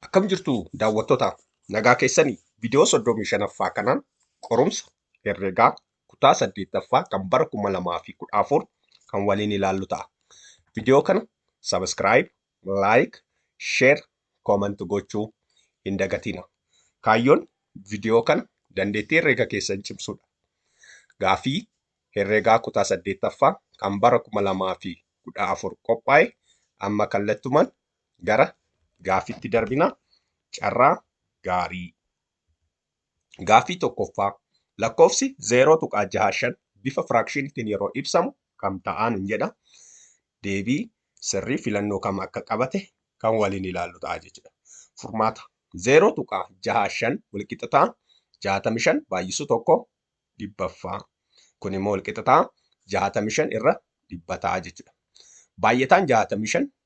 Akkam jirtu daawwattoota nagaa keessanii viidiyoo 35ffaa kanaan qorumsa herregaa kutaa 8ffaa kan bara 2014 kan waliin ilaallu ta'a. Viidiyoo kana subscribe, like, share, comment gochuu hin dagatina. Kaayyoon viidiyoo kana dandeettii herreega keessan cimsuudha. Gaafii herregaa kutaa 8ffaa kan bara 2014 qophaa'e amma kallattumaan gara gaaffitti darbina. Carraa gaarii. Gaaffii tokkoffaa lakkoofsi 0.65 bifa firaakshiniitiin yeroo ibsamu kam ta'aan hin jedha. Deebii sirrii filannoo kam akka qabate kan waliin ilaallu ta'a jechuudha. Furmaata 0.65 walqixxataa 65 baay'isuu tokko dhibbaffaa. Kun immoo walqixxataa 65 irra dhibbataa jechuudha. Baay'ataan 65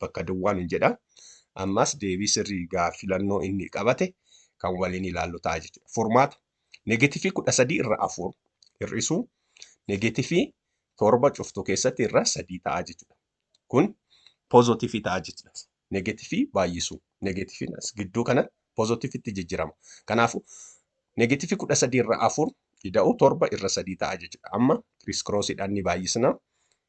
bakka duwwaa nun jedha. Ammas deebii sirrii gaaf filannoo inni qabate kan waliin ilaallu ta'a jechuudha. Furmaata negeetifii kudha sadii irra afur hir'isuu negeetifii torba cuftuu keessatti irra sadii ta'a jechuudha. Kun poozotifii ta'a jechuudha. Negeetifii baay'isuu negeetifiin as gidduu kana poozotifitti jijjiirama. Kanaafuu negeetifii kudha sadii irra afur ida'uu torba irra sadii ta'a jechuudha. Amma kiriiskiroosidhaan ni baay'isna.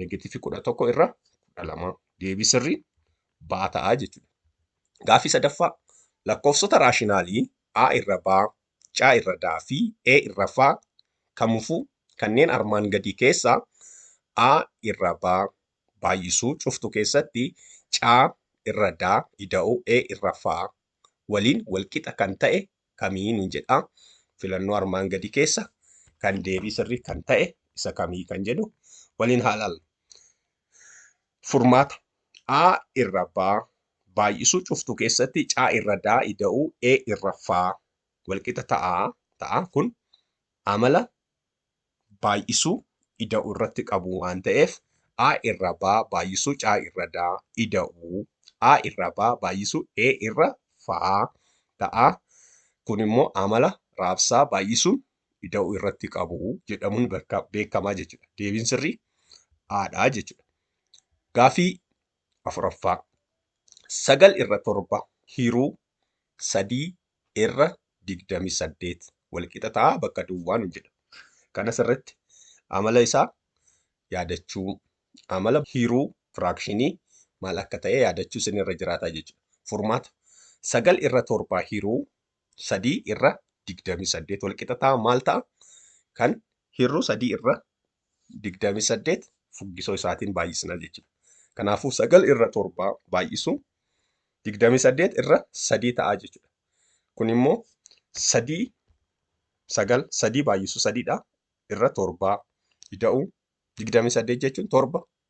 Negatiivii 11 irra 12. Deebii sirrii baa ta'a jechuudha. Gaaffii sadaffaa lakkoofsota raashinaalii A irra baa, C irra daa fi E irra faa kamufuu kanneen armaan gadii keessaa A irra baa baay'isuu cuftu keessatti C irra daa ida'uu E irra faa waliin walqixa kan ta'e kamii nuun jedha. Filannoo armaan gadii keessa kan deebii sirrii kan ta'e isa kamii kan jedhu waliin haa ilaallu. Furmaata A irra B baay'isuu cuftuu keessatti C irra D ida'uu E irra F walqixa ta'a ta'a kun amala baay'isuu ida'u irratti qabu waan ta'eef a irra ba baay'isuu c irra da ida'u a irra ba baay'isuu e irra fa ta'a. Kun immoo amala raabsaa baay'isuun ida'u irratti qabu jedhamuun beekamaa jechuudha. Deebiin sirrii haadhaa jechuudha. Gaafii afuraffaa sagal irra torba hiruu sadii irra 28 walqixa ta'a bakka duwwaa nu jedha. Kanas irratti amala isaa yaadachuu, amala hiruu firaakshinii maal akka ta'e yaadachuu isin irra jiraata jechuudha. Furmaata 9 irra 7 hiruu 3 irra 28 walqixa ta'a maal ta'a? Kan hiruu 3 irra digdamii saddeet fuggisoo isaatiin baay'isna jechuudha. Kanaafuu sagal irra torba baay'isu digdamii saddeet irra sadii ta'a jechuudha. Kun immoo sadii sagal sadii baay'isu sadiidha irra torbaa ida'u digdamii saddeet jechuun torba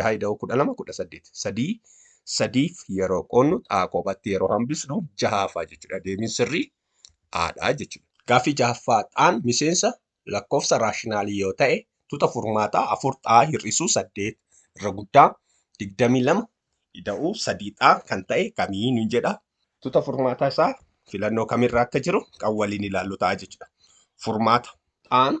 6 ida'uu 12 18 3 sadiif yeroo qoonnu xaa kophatti yeroo hambisnu jahaafaa jechuudha deebiin sirrii aadhaa jechuudha. Gaaffii jahaffaa xaan miseensa lakkoofsa raashinaalii yoo ta'e tuta furmaataa 4 xaa hir'isuu 8 irra guddaa 22 ida'uu 3 xaa kan ta'e kamii nun jedha tuta furmaataa isaa filannoo kamirra akka jiru kan waliin ilaallu ta'a jechuudha. Furmaata xaan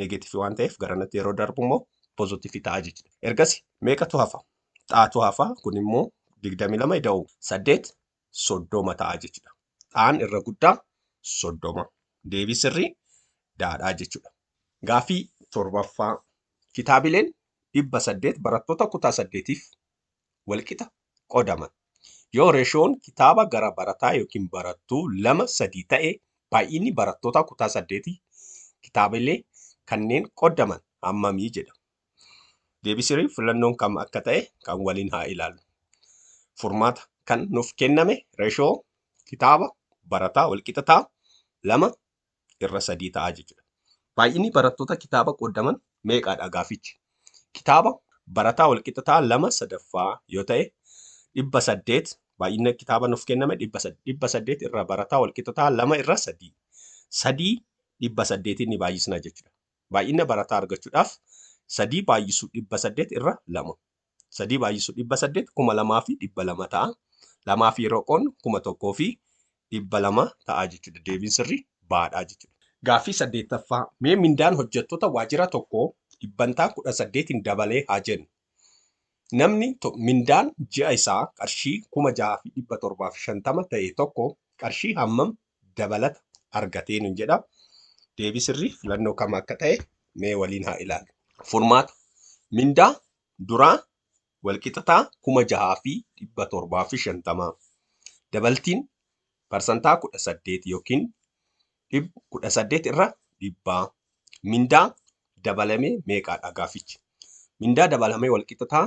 negeetiivii waan ta'eef garanatti yeroo darbu immoo pozitiivii ta'a jechuudha. Ergasi meeqatu hafa? Xaatu hafa kun immoo 22 ida'u 8 soddoma ta'a jechuudha. Xaan irra guddaa soddoma. Deebii sirrii daadhaa jechuudha. Gaaffii torbaffaa kitaabileen dhibba saddeet barattoota kutaa saddeetiif walqixa qodaman. Yoo reeshoon kitaaba gara barataa yookiin barattuu lama sadii ta'e baay'inni barattootaa kutaa saddeetii kitaabilee kanneen qodaman hammamii jedha. Deebisirii filannoon kam akka ta'e kan waliin haa ilaalu. Furmaata kan nuuf kenname reeshoo kitaaba barataa walqixa ta'a lama irra sadii ta'a jechuudha. Baay'inni barattoota kitaaba qooddaman meeqaadha gaafichi? Kitaaba barataa walqixa ta'a lama sadaffaa yoo ta'e dhibba saddeet baay'inna kitaaba nuuf kenname dhibba saddeet irra barataa walqixa ta'a lama irra sadii sadii dhibba saddeetiin ni baay'isna jechuudha. Baay'inna barataa argachuudhaaf sadii baay'isu dhibba saddeet irra lama 3 baay'isu 800 kuma lamaa fi dhibba lama ta'a. Lamaa fi yeroo qoodnu kuma tokkoo fi dhibba lama ta'a jechuudha. Deebiin sirrii baadhaa jechuudha. Gaaffii saddeettaffaa mee mindaan hojjettoota waajjira tokkoo dhibbantaa kudha saddeetiin dabalee haa jennu. Namni mindaan ji'a isaa qarshii kuma jaha fi dhibba torbaa fi shantama ta'e tokko qarshii hammam dabalata argatee nun jedha. Deebii sirrii filannoo kam akka ta'e mee waliin haa ilaallu. Furmaata. Mindaa duraa walqixataa kuma jahaa fi dhibba torbaa fi shantamaa. Dabaltiin parsantaa kudha saddeet yookiin kudha saddeet irra dhibbaa. Mindaa dabalame meeqaadha gaafichi? Mindaa dabalame walqixataa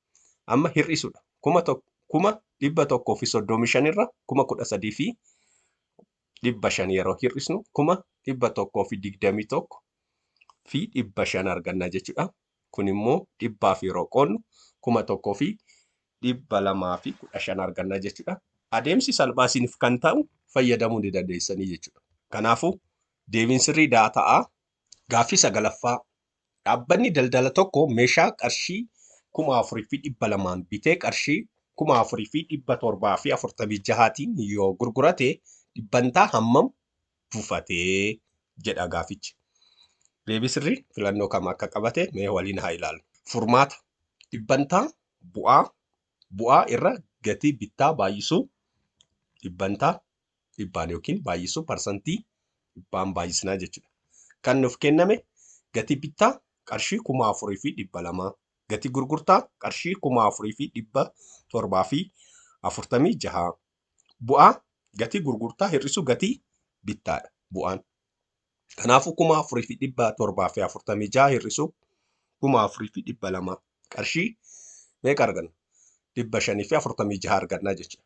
amma hir'isuudha. Kuma tokko kuma dhibba tokkoo fi soddomii shan irra kuma kudha sadii fi dhibba shan yeroo hir'isnu kuma dhibba tokkoo fi digdamii tokko fi dhibba shan arganna jechuudha. Kun immoo dhibbaaf yeroo qoodnu kuma tokkoo fi dhibba lamaa fi kudha shan arganna jechuudha. Adeemsi salphaa isiniif kan ta'u fayyadamuu ni dandeessanii jechuudha. Kanaafuu deebiin sirrii daata'aa gaaffii sagalaffaa Dhaabbanni daldala tokko meeshaa qarshii 4,200n bitee qarshii 4,746tiin yoo gurgurate dhibbantaa hammam bufate jedha gaafichi. Deebii sirrii filannoo kam akka qabate mee waliin haa ilaallu. Furmaata. Dhibbantaa bu'aa bu'aa irra gatii bittaa baay'isuu dhibbantaa dhibbaan yookiin baay'isuu parsantii dhibbaan baay'isnaa jechuudha. Kan nuuf kenname gatii bittaa qarshii kuma afurii fi dhibba lamaa gatii gurgurtaa qarshii kuma afurii fi dhibba torbaa fi afurtamii jahaa bu'aa gatii gurgurtaa hir'isuu gatii bittaadha bu'aan. Kanaafuu kuma afurii fi dhibba torbaa fi afurtamii jaha hir'isuu kuma afurii fi dhibba lamaa qarshii meeqa arganna? Dhibba shanii fi afurtamii jaha argannaa jechuudha.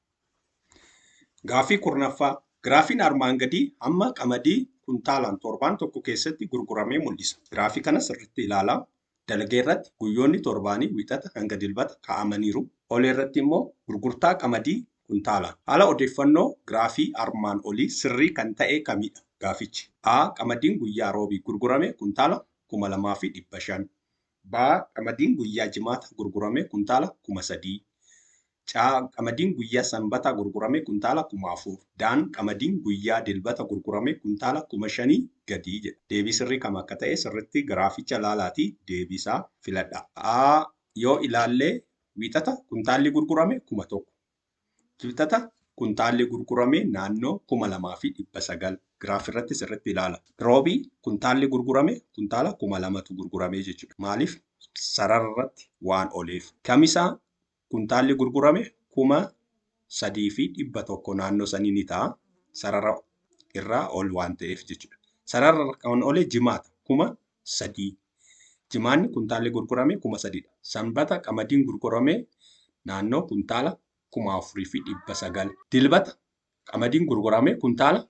Gaaffii 10ffaa, Giraafiin armaan gadii hamma qamadii kuntaalaan torbaan tokko keessatti gurguramee mul'isa. Giraafii kana sirriitti ilaalaa. Dalgee irratti guyyoonni torbaanii Wixata hanga Dilbata kaa'amaniiru. Olee irratti immoo gurgurtaa qamadii kuntaalaan. Haala odeeffannoo giraafii armaan olii sirrii kan ta'e kamidha? Gaafichi. A. Qamadiin guyyaa Roobii gurgurame kuntaala 2500. B. Qamadiin guyyaa Jimaata gurgurame kuntaala 3000. C. Qamadiin guyyaa Sanbataa gurgurame kuntaala kuma 4. D. Qamadiin guyyaa Dilbata gurgurame kuntaala kuma 5 gadi jedha. Deebii sirrii kam akka ta'e sirritti giraaficha ilaalaati deebii isaa filadhaa. A. Yoo ilaalle Wiixata kuntaalli gurgurame kuma 1. Kibxata kuntaalli gurgurame naannoo kuma 2 fi 900. Giraaf irratti sirritti ilaala. Roobii kuntaalli gurgurame kuntaala kuma 2tu gurgurame jechuudha. Maaliif? Sarara irratti waan oleef. Kamisaa kuntaalli gurgurame kuma sadii fi dhibba tokko naannoo sanii ni ta'a. Sarara irraa ol waan ta'eef jechuudha. Sarara kan ole jimaata kuma sadii. Jimaanni kuntaalli gurgurame kuma sadiidha. Sanbata qamadiin gurgurame naannoo kuntaala kuma afurii fi dhibba sagal. Dilbata qamadiin gurgurame kuntaala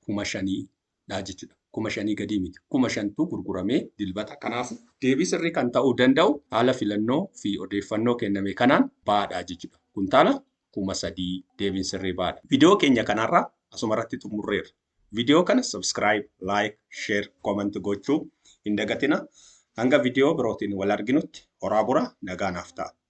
kuma shanii. dha jechuudha. Kuma shanii gadii miti. Kuma shantu gurgurame Dilbata. Kanaafu, deebii sirrii kan ta'uu danda'u haala filannoo fi odeeffannoo kenname kanaan ba'aa dha jechuudha. Kuntaala kuma sadii. Deebiin sirrii ba'aa dha. Video keenya kan har'aa asuma irratti xumurreerra. Video kana subscribe, like, share, comment gochuu hin dagatinaa. Hanga video birootiin wal arginutti horaa bulaa nagaa naaf ta'aa.